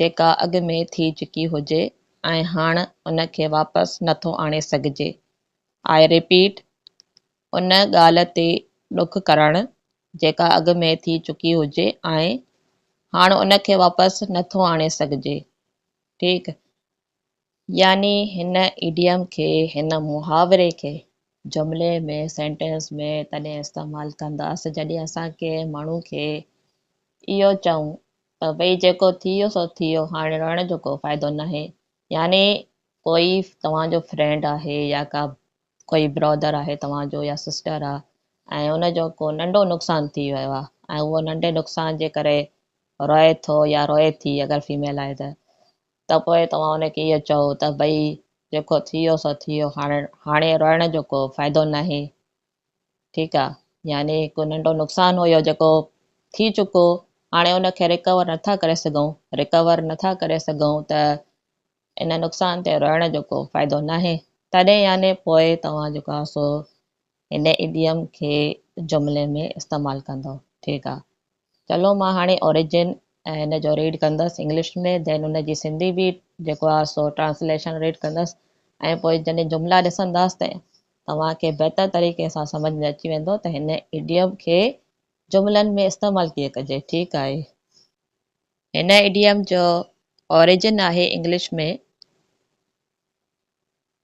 جيڪا اڳ ۾ ٿي چڪي هجي ۽ هاڻ ان کي واپس نه ٿو آڻي سگهجي. آء ريپيٽ، ان ڳالهه تي ڏک ڪرڻ، جيڪا اڳ ۾ ٿي چڪي هجي ۽ هاڻ ان کي واپس نه ٿو آڻي سگهجي. ٺيڪ. يعني هن ايڊيم کي، هن محاوري کي، جملي ۾، Sentence، ۾ تڏهن استعمال ڪنداس جڏهن اسان ڪنهن ماڻهو کي اهو چئون ته ڀئي جيڪو ٿي ويو سو ٿي ويو هاڻي روئڻ جو ڪو فائدو ناهي يعني ڪوئي توهان جو فرينڊ آهي يا ڪا ڪوئي برادر آهي توهان جو يا سسٽر آهي ۽ ان جو ڪو ننڍو نقصان ٿي ويو آهي ۽ اهو ننڍي نقصان جي ڪري روئي ٿو يا روئي ٿي اگر فيميل آهي ته ته پوء توهان ان کي اهو چئو ته ڀئي جيڪو ٿي ويو سو ٿي ويو، هاڻ هاڻي روئڻ جو ڪو فائدو ناهي. ٺيڪ آ. يعني هڪ ننڍو نقصان هيو جيڪو ٿي چڪو، هاڻي ان کي ريڪور نٿا ڪري سگهون، ريڪور نٿا ڪري سگهون ته ان نقصان تي روئڻ جو ڪو فائدو ناهي. تڏهن يعني پوء توهان جيڪو آ سو هن ايڊيم کي جملي ۾ استعمال ڪندو ٺيڪ آ چلو مان هاڻي اوريجن ۽ هن جو ريڊ ڪندس انگلش ۾ ڌين ان جي سنڌي به جيڪو آ سو ٽرانسليشن ريڊ ڪندس ۽ پوء جڏهن جملا ڏسنداس ته توهان کي بهتر طريقي سان سمجھ ۾ اچي ويندو ته هن ايڊيم کي جملن ۾ استعمال ڪيئن ڪجي ٺيڪ آهي هن ايڊيم جو اوريجن آهي انگلش ۾.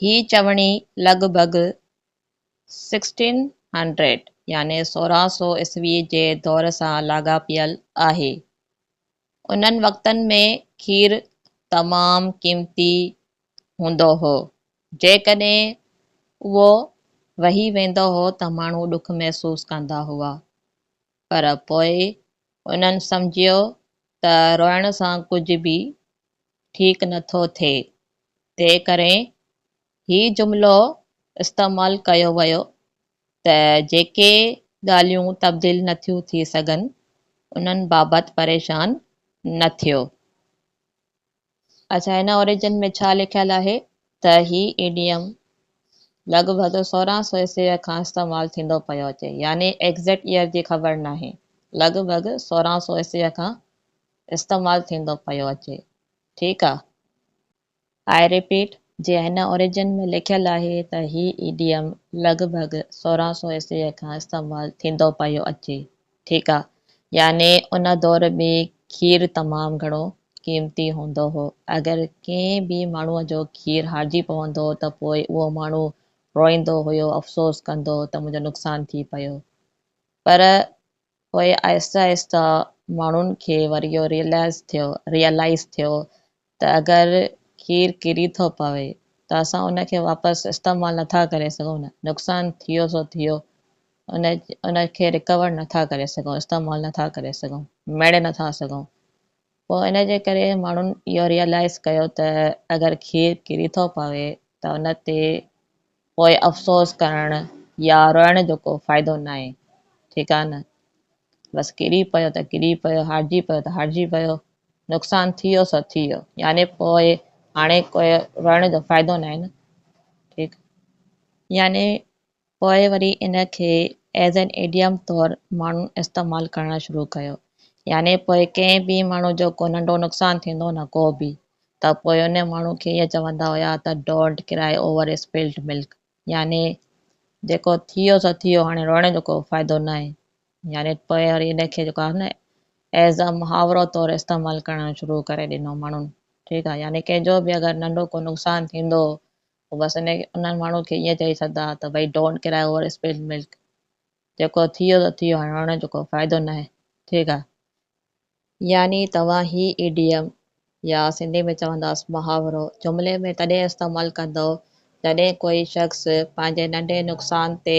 هي چوڻي لڳ ڀڳ 1600 يعني 1600 عيسوي جي دور سان لاڳاپيل آهي. انهن وقتن ۾ کير تمام قيمتي هوندو هو. جيڪڏهن اهو وهي ويندو هو ته ماڻهو ڏک محسوس ڪندا هئا. پر پوء انهن سمجهيو ته روئڻ سان ڪجهه به ٺيڪ نه ٿو ٿئي، تنهنڪري هي جملو استعمال ڪيو ويو ته جيڪي ڳالهيون تبديل نه ٿيون ٿي سگهن، انهن بابت پريشان نه ٿيو. اچا هن اوريجن ۾ ڇا لکيل آهي ته هي ايڊيم لڳ ڀڳ سورهن سؤ عيسويء کان استعمال ٿيندو پيو اچي يعني ايگزيڪٽ ايئر جي خبر ناهي لڳ ڀڳ سورهن سؤ عيسويء کان استعمال ٿيندو پيو اچي ٺيڪ آ آء ريپيٽ جي هن اوريجن ۾ لکيل آهي ته هي ايڊيم لڳ ڀڳ سورهن سو عيسويء کان استعمال ٿيندو پيو اچي ٺيڪ آ يعني ان دور ۾ کير تمام گهڻو قيمتي هوندو هو اگر ڪنهن به ماڻهو جو کير هارجي پوندو ته پوء اهو ماڻهو روئيندو هيو افسوس ڪندو ته منهنجو نقصان ٿي پيو پر پوء آهستي آهستي ماڻهن کي وري اهو ريئلائز ٿيو Realize ٿيو ته اگر کير ڪري ٿو پوي ته اسان ان کي واپس استعمال نه ٿا ڪري سگهون نه نقصان ٿيو سو ٿيو ان ان کي رڪور نه ٿا ڪري سگهون استعمال نه ٿا ڪري سگهون ميڙي نه ٿا سگهون پوء ان جي ڪري ماڻهن اهو ريئلائز ڪيو ته اگر کير ڪري ٿو پوي ته ان تي پوء افسوس ڪرڻ يا روئڻ جو ڪو فائدو ناهي، ٺيڪ آهي نه؟ بس ڪري پيو ته ڪري پيو، هارجي پيو ته هارجي پيو، نقصان ٿي ويو سو ٿي ويو، يعني پوء هاڻي ڪو روئڻ جو فائدو ناهي نه؟ ٺيڪ؟ يعني پوء وري ان کي As an Idiom طور ماڻهن استعمال ڪرڻ شروع ڪيو، يعني پوء ڪنهن به ماڻهو جو ڪو ننڍو نقصان ٿيندو نه ڪو به، ته پوئيون ماڻهو کي ائين چوندا هيا ته Don't cry over spilt milk يعني جيڪو ٿيو سو ٿيو هاڻي روئڻ جو ڪو فائدو ناهي يعني پوء وري ان کي جيڪو آهي نه ايز ا محاورو طور استعمال ڪرڻ شروع ڪري ڏنو ماڻهن ٺيڪ آهي يعني ڪنهن جو به اگر ننڍو ڪو نقصان ٿيندو هو بس ان انهن ماڻهن کي ائين چئي ڇڏدا ته ڀئي Don't cry over spilt milk جيڪو ٿيو سو ٿيو هاڻي روئڻ جو ڪو فائدو ناهي ٺيڪ آهي يعني توهان هي ايڊيم يا سنڌي ۾ چونداس محاورو جملي ۾ تڏهن استعمال ڪندؤ جڏهن ڪوئي شخص پنهنجي ننڍي نقصان تي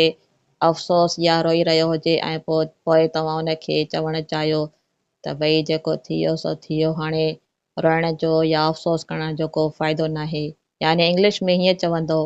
افسوس يا روئي رهيو هجي ۽ پوء توهان ان کي چوڻ چاهيو ته ڀئي جيڪو ٿيو سو ٿيو هاڻي روئڻ جو يا افسوس ڪرڻ جو ڪو فائدو ناهي يعني انگلش ۾ هيئن چوندؤ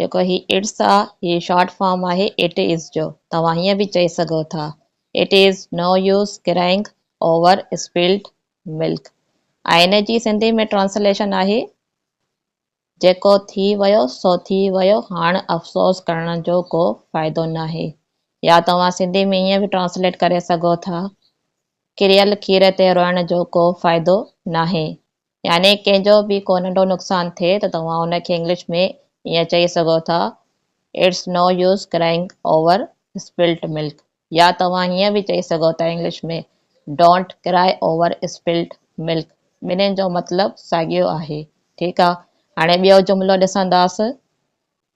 جيڪو هي اٽس آ، هي شارٽ فارم آهي اٽ از جو. توهان هيئن به چئي سگهو ٿا، It is no use crying over spilled milk. آئيني جي سنڌي ۾ ٽرانسليشن آهي، جيڪو ٿي ويو سو ٿي ويو، هاڻ افسوس ڪرڻ جو ڪو فائدو ناهي. يا توهان سنڌي ۾ هيئن به ٽرانسليٽ ڪري سگهو ٿا، ڪريل کير تي روئڻ جو ڪو فائدو ناهي. يعني ڪنهن جو به ڪو ننڍو نقصان ٿئي ته توهان ان کي انگلش ۾ ائين چئي سگهو ٿا It's no use crying over spilt milk يا توهان هيئن به چئي سگهو ٿا English ۾ Don't cry over spilt milk ٻنهين جو مطلب ساڳيو آهي ٺيڪ آهي هاڻي ٻيو جملو ڏسنداس.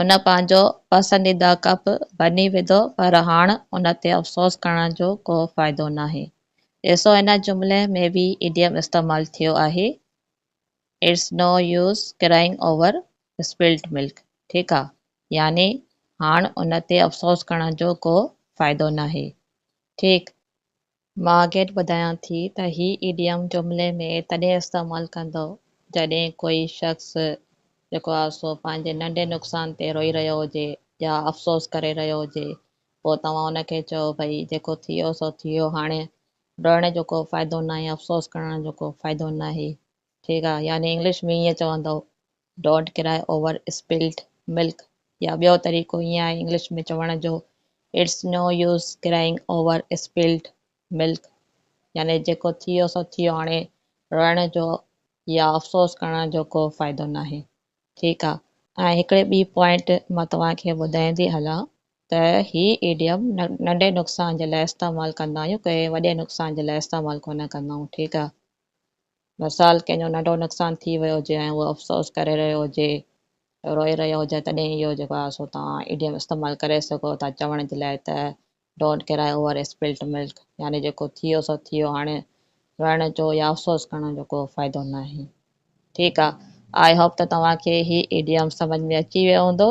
هن پنهنجو پسنديده ڪپ بني وڌو پر هاڻ ان تي افسوس ڪرڻ جو ڪو فائدو ناهي ڏسو هن جملي ۾ به ايڊيم استعمال ٿيو آهي It's no use crying over spilt milk ٺيڪ آ يعني هاڻ ان تي افسوس ڪرڻ جو ڪو فائدو ناهي ٺيڪ مان اڳيئي ٻڌايان ٿي ته هي ايڊيم جملي ۾ تڏهن استعمال ڪندو جڏهن ڪوئي شخص جيڪو آهي سو پنهنجي ننڍي نقصان تي روئي رهيو هجي يا افسوس ڪري رهيو هجي پوء توهان ان کي چئو ڀئي جيڪو ٿيو سو ٿيو هاڻي روئڻ جو ڪو فائدو ناهي افسوس ڪرڻ جو ڪو فائدو ناهي ٺيڪ آهي يعني انگلش ۾ ائين چوندو ڊونٽ ڪرائي اوور اسپلڊ ملڪ يا ٻيو طريقو ائين آهي انگلش ۾ چوڻ جو it's no use crying over spilled milk يعني جيڪو ٿيو سو ٿيو هاڻي روئڻ جو يا افسوس ڪرڻ جو ڪو فائدو ناهي ٺيڪ آهي ۽ هڪڙي ٻي پوائنٽ مان توهان کي ٻڌائيندي هلان ته هي ايڊيم ننڍي نقصان جي لاء استعمال ڪندا آهيون ڪنهن وڏي نقصان جي لاء استعمال ڪونه ڪندا آهيون ٺيڪ آهي. مثال ڪنهن جو ننڍو نقصان ٿي ويو هجي ۽ هو افسوس ڪري رهيو هجي، روئي رهيو هجي تڏهن اهو جيڪو آهي سو توهان ايڊيم استعمال ڪري سگهو ٿا چوڻ جي لاء ته Don't cry over spilt milk يعني جيڪو ٿيو سو ٿيو هاڻي روئڻ جو يا افسوس ڪرڻ جو ڪو فائدو ناهي. ٺيڪ آ آء هوپ ته توهان کي هي ايڊيم سمجهه ۾ اچي ويو هوندو.